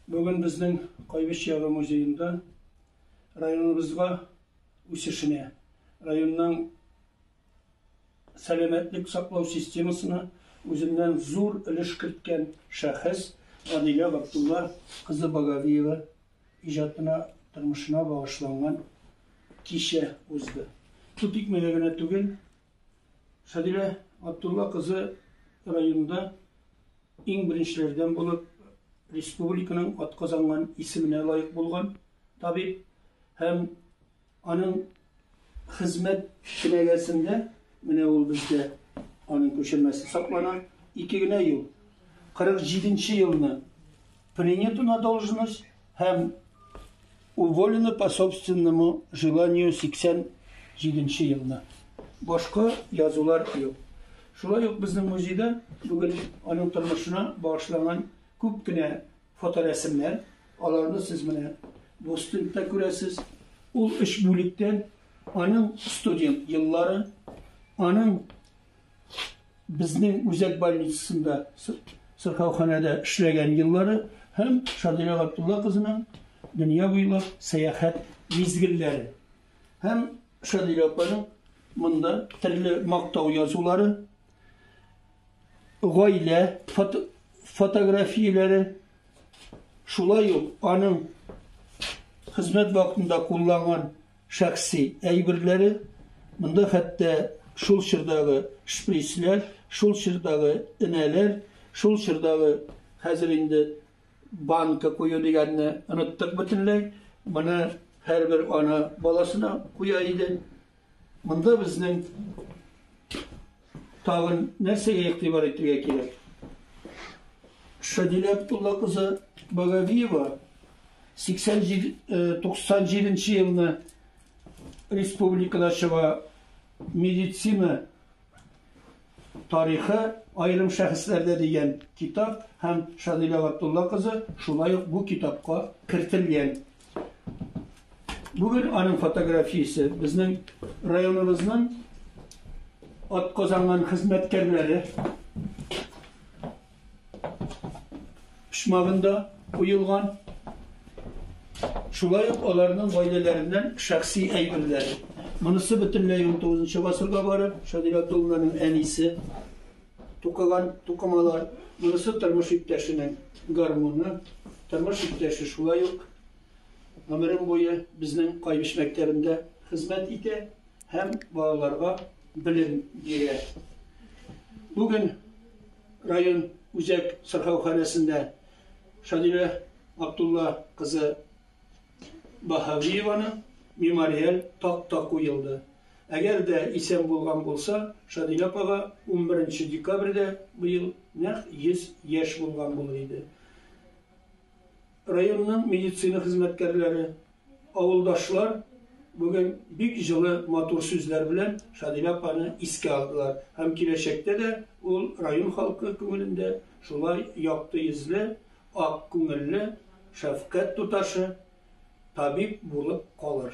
Бүген безнең Кайбыч ягы музеенда районыбызга үсешенә, районның сәламәтлек саклау системасына үзеннән зур өлеш керткән шәхес Гадилә Габдулла кызы Багавиева иҗатына, тормышына багышланган кичә узды. Су тикмәгә генә түгел, Гадилә Габдулла кызы районда Иң беренчеләрдән булып республиканың атказанган исеменә лаек булган табиб һәм аның хезмәт кенәгәсендә, менә ул бездә аның күчермәсе саклана, ике генә ел, 47 нче елны Принято на должность һәм уволено по собственному желанию 87 елны. Башка язулар юк. Шулай ук безнең музейда бүген аның тормышына багышланган күп кенә фоторәсемнәр, аларны сез менә бу стендта күрәсез. Ул өч бүлектән аның студент еллары, аның безнең үзәк больницасында сырхауханәдә эшләгән еллары һәм Шадирә Габдулла кызының дөнья буйлап сәяхәт мизгелләре. Һәм Шадирә апаның монда төрле мактау язулары, гаилә фото, фотографияләре, шулай ук аның хезмәт вакытында кулланган шәхси әйберләре, монда хәтта шул чордагы шприцләр, шул чордагы энәләр, шул чордагы, хәзер инде банка кую дигәнне оныттык бөтенләй, моны һәрбер ана баласына куя иде. Монда безнең Тагын нәрсәгә игътибар итергә кирәк? Шәдилә Абдулла кызы Багавиева 97-97 елны республикада чыга медицина тарихы айрым шәхесләрдә дигән китап һәм Шадилә Габдулла кызы шулай ук бу китапка кертелгән. Бүген аның фотографиясе безнең районыбызның атказанган хезмәткәрләре почмагында куелган. Шулай ук аларның гаиләләреннән шәхси әйберләр. Монысы бөтенләй 19 нчы гасырга барып, Шадиләтулланың әнисе Тукыган тукымалар, монысы тормыш иптәшенең гармуны, тормыш иптәше шулай ук гомерем буе безнең Кайбыч мәктәбендә хезмәт итә һәм балаларга белем бирә. Бүген район үзәк сырхауханәсендә Шадилә Абдулла кызы Баһавиеваның мемориаль такта куелды. Әгәр дә исән булган булса, Шадилә апага унберенче декабрьдә быел нәкъ 100 яшь булган булыр иде. Районның медицина хезмәткәрләре, авылдашлар бүген бик җылы, матур сүзләр белән Шадилә апаны искә алдылар һәм киләчәктә дә ул район халкы күңелендә шулай якты йөзле, ак күңелле шәфкать туташы, табиб булып калыр.